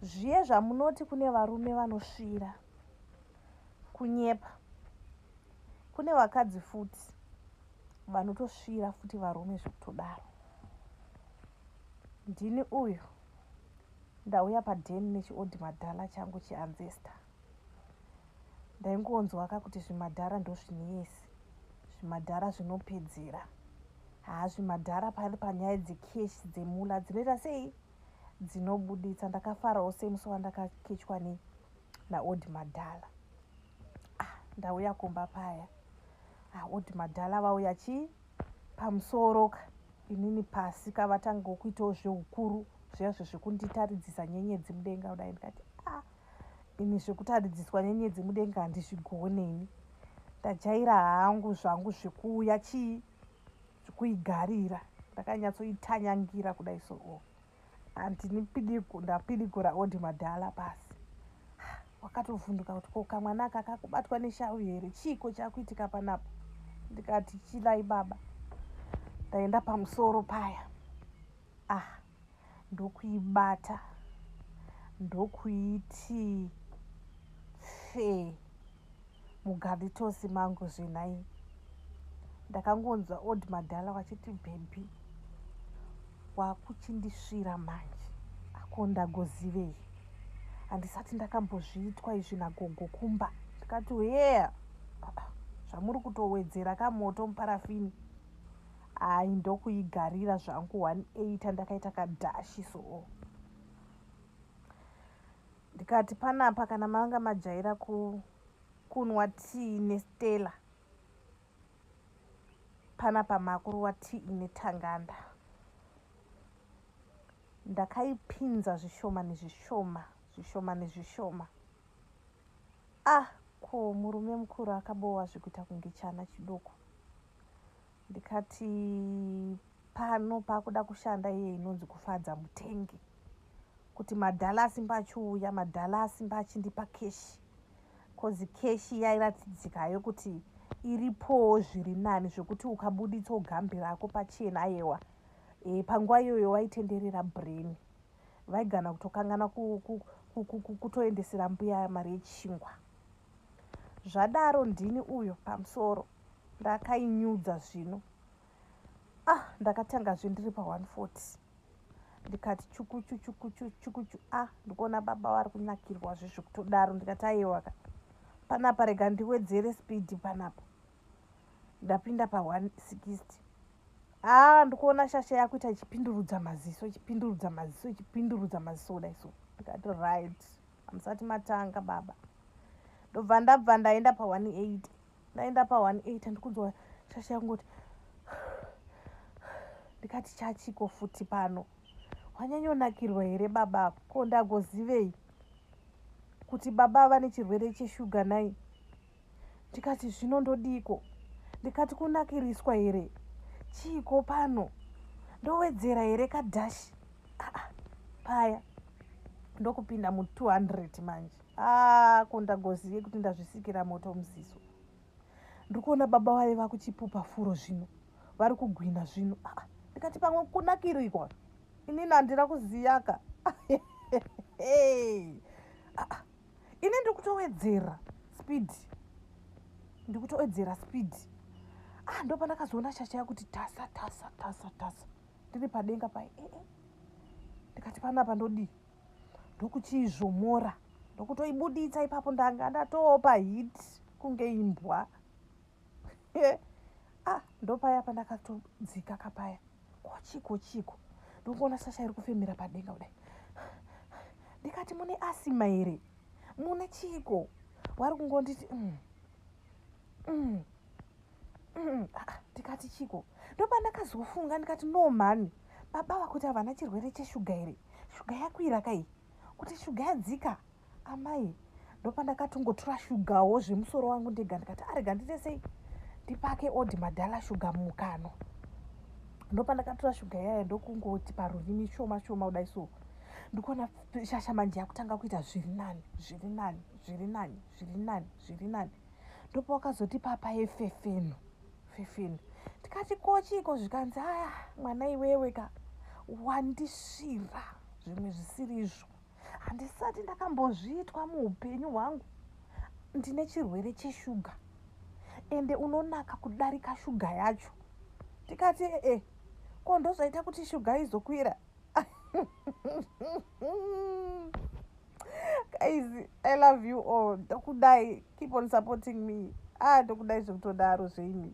Zviye zvamunoti kune varume vanosvira kunyepa kune vakadzi futi vanotosvira futi varume zvekutodaro ndini uyu ndauya paden nechiodhi madhala changu chianzesta ndaingonzwaka kuti zvimadhara ndozvineyesi zvimadhara zvinopedzera haa zvimadhara pari panyaya dzekeshi dzemula dzinoita sei dzinobuditsa ndakafarawo semusi wandakakechwa ne naodi madhala ah, ndauya kumba paya ah, odi madhala vauya chii pamusoro ka inini pasi ka vatanga kuitawo zveukuru zviyazvo zvekunditaridzisa nyenyedzi mudenga kudai ndikati ah, ini zvekutaridziswa nyenyedzi mudenga handizvigone ini ndajaira hangu zvangu zvekuuya chii kuigarira ndakanyatsoitanyangira kudai so oh. andinipidigu ndapidigura odi madhala pasi wakatovhunduka kuti ko kamwana aka kakubatwa nesharu here chiiko chakuitika panapo ndikati chilai baba ndaenda pamusoro paya Ah ndokuibata ndokuiti fe mugaritosi mangu zvenhai ndakangonzwa old madhala wachiti bhebhi wakuchindisvira manje ako ndagozivei handisati ndakambozviitwa izvi nagogo kumba ndikati hea zvamuri kutowedzera kamoto muparafini Hayi ndokuigarira zvangu 180 ndakaita kadhashi soo ndikati panapa kana manga majaira ku kunwa tii nestella panapa makuruwa tii ine tanganda ndakaipinza zvishoma nezvishoma zvishoma nezvishoma ah ko murume mukuru akabowa zvekuita kunge chana chidoko ndikati pano pakuda kushanda iye inonzi kufadza mutengi kuti madhala asimba achiuya madhala asimba achindipa keshi kozi keshi yairatidzika yo kuti iripowo zviri nani zvekuti ukabuditsa ugambi rako pachena ayewa e, eh, panguva iyoyo waitenderera brain vaigana kutokangana kutoendesera mbuya mari yechingwa zvadaro ndini uyo pamusoro ndakainyudza zvino ah ndakatangazve ndiri pa 140 ndikati chukuchu chukuchu chukuchu a ah, ndikuona baba vari kunakirwa zvezvo kutodaro ndikati ayewaka panapa rega ndiwedzere speed panapa ndapinda pa 160 a ah, ndikuona shasha yakuita ichipindurudza maziso ichipindurudza maziso ichipindurudza maziso kudai so ndikati right Hamusati matanga baba. Ndobva ndabva ndaenda pa 180. Ndaenda pa 180 andikunzwa shasha yangoti ndikati chachiko futi pano wanyanyonakirwa here baba ko ndagozivei kuti baba vane chirwere cheshuga nai ndikati zvino ndodiiko ndikati kunakiriswa here chiiko pano ndowedzera here kadhashi aa paya ndokupinda mu 200 manje aa ko ndagozive kuti ndazvisikira moto musiso ndiri kuona baba vaye vakuchipupa furo zvino vari kugwina zvino aa ndikati pamwe kunakirikwa inini handina kuziyaka ini ndikutowedzera speed ndikutowedzera speed ah ndo pandakazoona shasha yakuti tasa tasa tasa tasa ndiri padenga pai eh, eh. ndikati panapa ndodii ndokuchiizvomora ndokutoibuditsa ipapo ndanga ndatoopa hit kunge imbwa ah ndopaya pandakatodzika kapaya kochiko chiko ndokuona sasha iri kufemera padenga kudai ndikati mune asima here mune chiko wari kungonditi mm. Mm. Mm. Ah, ah, ndikati chiko ndopandakazofunga ndikati no mhani baba vakuti havana chirwere cheshuga here shuga yakwira kai kuti shuga yadzika amai ndopandakatongotura shugawo zvemusoro wangu ndega ndikati arega ah, ndite sei ndipake odi madhala shuga mukano ndopandakatura shuga yaya ndokungoti parurimi shoma shoma kudai so ndikuona shasha manje yakutanga kuita zviri nani zviri nani zviri nani zviri nani zviri nani ndopawakazoti papa yefefeno 15 tikati ko chiiko zvikanzi aya mwana iwewe ka wandisvira zvimwe zvisiri izvo handisati ndakambozviitwa muupenyu hwangu ndine chirwere cheshuga ende unonaka kudarika shuga yacho tikati ee ko ndozvaita kuti shuga izokwira guys i love you all ndokudai keep on supporting me ah ndokudai zvekutodaro zveimi